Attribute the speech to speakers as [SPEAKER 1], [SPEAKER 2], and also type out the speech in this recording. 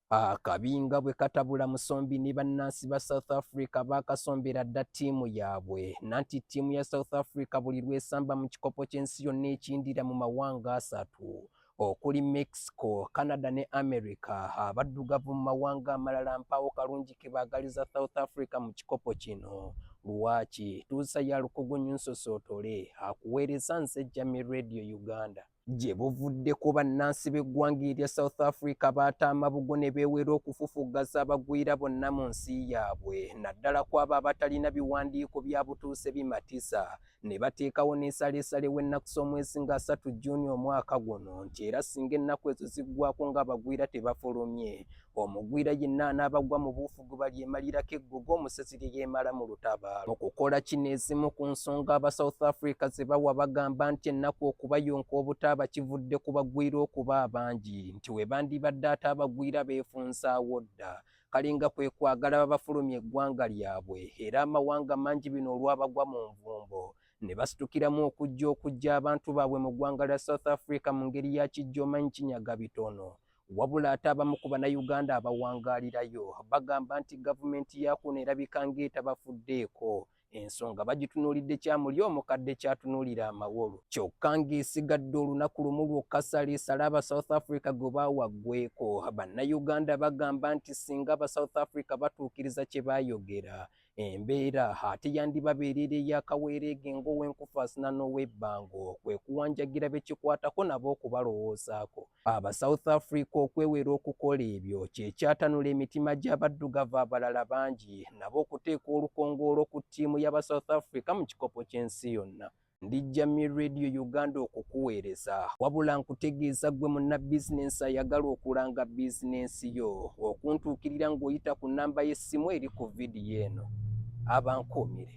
[SPEAKER 1] Akabinga bwe katabula Musombi ne bannansi ba South Africa baakasombera dda ttiimu yaabwe nanti ttiimu ya South Africa buli lw'esamba mu kikopo ky'ensi yonna ekiyindira mu mawanga asatu okuli Mexico, Canada ne America. Abaddugavu mu mawanga amalala mpaawo kalungi ke baagaliza South Africa mu kikopo kino. Lwaki tuusa ya lukugunyu nsosootole akuweereza nze Jamie Radio Uganda. Gye buvuddeko bannansi b'eggwanga erya South Africa baata amabugo ne beewera okufufuggaza abagwira bonna mu nsi yaabwe naddala ku abo abatalina biwandiiko bya butuuse bimatisa ne bateekawo n'ensaleesale w'ennaku z'omwezi nga asatu Juuni omwaka guno nti era singa ennaku ezo ziggwako ng'abagwira tebafulumye omugwira yenna anaabagwa mu buufu gwe balyemalirako eggogo omusezi lye yeemala mu lutabaalo mu kukola kino ezimu ku nsonga aba south africa ze bawa bagamba nti ennaku okubayonka obutaaba kivudde ku bagwira okuba abangi nti we bandibadde ate abagwira beefunzaawo dda kale nga kwe kwagala babafulumya eggwanga lyabwe era amawanga mangi bino olwabagwa mu nvumbo ne basitukiramu okujja okujja abantu baabwe mu ggwanga lya south africa mu ngeri ya kijja omanyi kinyaga bitono Wabula ate abamu ku Bannayuganda abawangaalirayo bagamba nti gavumenti yaakuno erabika ng'etabafuddeeko ensonga bagitunuulidde kya muli omukadde kyatunuulira amawolu kyokka ng'esigadde olunaku lumu lwokka saliisala aba south africa gwe baawaggweko bannayuganda bagamba nti singa aba south africa batuukiriza kye baayogera embeera ate yandibabeerera eyakaweereege ng'owenkufaasina n'ow'ebbango kwe kuwanjagira bekikwatako nabo okubalowoozaako Aba South Africa okwewera okukola ebyo kyekyatanula emitima gy'abaddugavu abalala bangi nabo okuteeka olukongoolo ku ttiimu y'aba South Africa mu kikopo ky'ensi yonna. Ndi Jamie Radio Uganda okukuweereza. Wabula nkutegeeza ggwe munnabizinensi ayagala okulanga bizinensi yo okuntuukirira ng'oyita ku nnamba y'essimu eri ku vidiyo eno. Abankuumire.